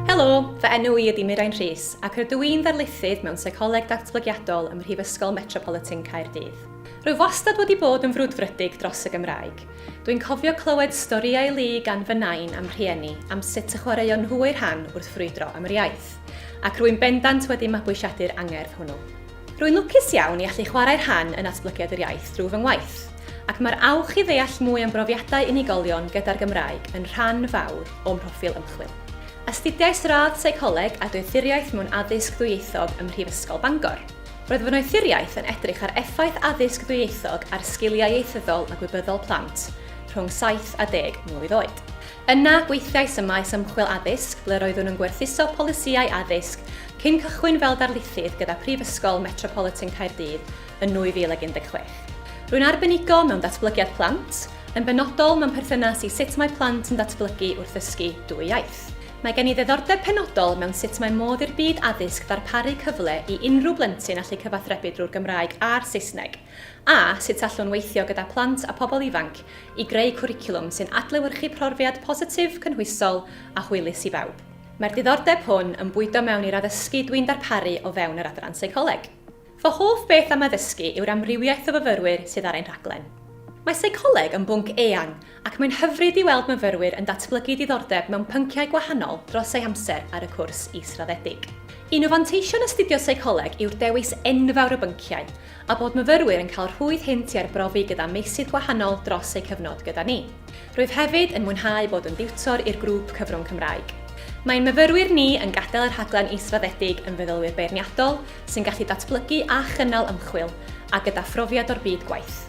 Helo, fy enw i ydy Mirain Rhys ac rydw i'n ddarlithydd mewn Seicoleg Datblygiadol ym Mhrifysgol Metropolitan Caerdydd. Rwyf wastad wedi bod yn frwdfrydig dros y Gymraeg. Dwi'n cofio clywed storïau lu gan fy nain a'm rhieni am sut y chwaraeon nhw eu rhan wrth frwydro am yr iaith, ac rwy'n bendant wedi mabwysiadu'r angerdd hwnnw. Rwy'n lwcus iawn i allu chwarae rhan yn natblygiad yr iaith drwy fy ngwaith, ac mae'r awch i ddeall mwy am brofiadau unigolion gyda'r Gymraeg yn rhan fawr o'm mhroffil ymchwil. Astudiais radd Seicoleg a Doethuriaeth mewn Addysg Ddwyieithog ym Mhrifysgol Bangor. Roedd fy noethuriaeth yn edrych ar effaith addysg ddwyieithog ar sgiliau ieithyddol a gwybyddol plant rhwng saith a deg mlwydd oed. Yna, gweithiais ym maes ymchwil addysg ble roeddwn yn gwerthuso polisïau addysg cyn cychwyn fel darlithydd gyda Prifysgol Metropolitan Caerdydd yn 2016. Rwy'n arbenigo mewn datblygiad plant, yn benodol mewn perthynas i sut mae plant yn datblygu wrth ddysgu dwy iaith. Mae gen i ddiddordeb penodol mewn sut mae modd i'r byd addysg ddarparu cyfle i unrhyw blentyn allu cyfathrebu drwy'r Gymraeg a'r Saesneg, A sut allwn weithio gyda phlant a phobl ifanc i greu cwricwlwm sy'n adlewyrchu profiad positif, cynhwysol a hwylus i bawb? Mae'r diddordeb hwn yn bwydo mewn i'r addysgu dwi'n darparu o fewn yr Adran Seicoleg. Fy hoff beth am addysgu yw'r amrywiaeth o fyfyrwyr sydd ar ein rhaglen. Mae seicoleg yn bwnc eang ac mae'n hyfryd i weld myfyrwyr yn datblygu diddordeb mewn pynciau gwahanol dros eu hamser ar y cwrs israddedig. Un o fanteision astudio seicoleg yw'r dewis enfawr o bynciau, a bod myfyrwyr yn cael rhwydd hynt i arbrofi gyda meysydd gwahanol dros eu cyfnod gyda ni. Rwyf hefyd yn mwynhau bod yn diwtor i'r grŵp Cyfrwng Cymraeg. Mae'n myfyrwyr ni yn gadael y rhaglen israddedig yn feddylwyr beirniadol sy'n gallu datblygu a chynnal ymchwil, a gyda phrofiad o'r byd gwaith.